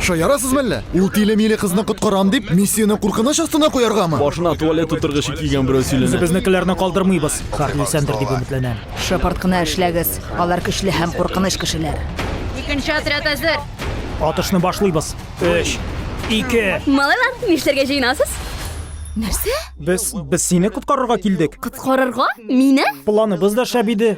Шаярасыз мәллә? Ул тиле-миле кызны коткарам дип, миссияне куркыныч астына куяргамы? Башына туалет утыргычы кигән берәү сөйләнә. Үзебезнекеләрне калдырмыйбыз. Хәрли Сәндер дип өметләнәм. Шапарт кына эшләгез. Алар көчле һәм куркыныч кешеләр. Икенче отряд әзер. Атышны башлыйбыз. 3 2 Малайлар, нишләргә җыенасыз? Нәрсә? Без без сине коткарырга килдек. Коткарырга? Мине? Планыбыз да шәп иде.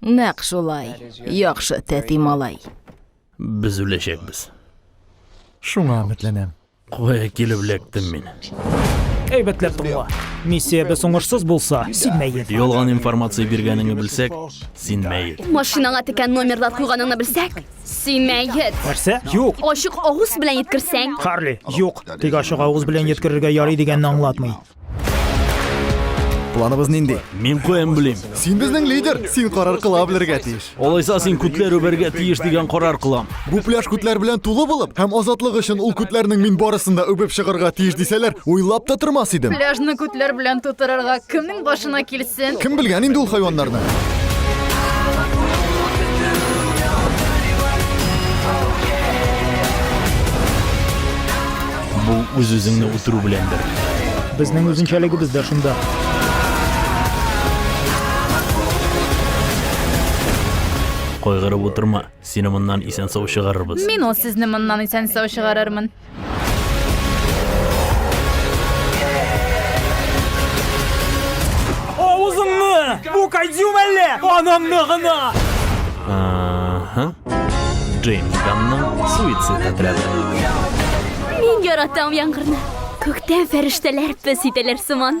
Нәкъ шулай. Яхшы, тәти малай. Без үләчәкбез. Шуңа өметләнәм. Кая килеп эләктем мин? Әйбәтләп тыңла. Миссиябез уңышсыз булса, син мәет. Ялган информация биргәнеңне белсәк, син мәет. Машинаңа текән номерлар куйганыңны белсәк, син мәет. Нәрсә? Юк. Ачык авыз белән еткерсәң. Харли, юк. Тик ачык авыз белән еткерергә ярый дигәнне аңлатмый. Планыбыз нинди? Мин куем билим. Син безнең лидер, син карар кыла белергә тиеш. Олайса син күтләр үбәргә тиеш дигән карар кылам. Бу пляж күтләр белән тулы булып, һәм азатлык өчен ул күтләрнең мин барысын да үбеп чыгарга тиеш дисәләр, уйлап та тормас идем. Пляжны күтләр белән тутырырга кемнең башына килсен? Кем белгән инде ул хайваннарны? Бу үз-үзеңне үтерү беләндер. Безнең үзенчәлегебез дә шунда. Кайгырып утырма, сине моннан исән-сау чыгарырбыз. Мин ул сезне моннан исән-сау чыгарырмын. Авызыңны! Бу кайдюм әллә! Анамны гына! Ага. Джеймс Ганның суицид отряды. Мин яратам яңгырны. Күктән фәрештәләр пес итәләр сыман.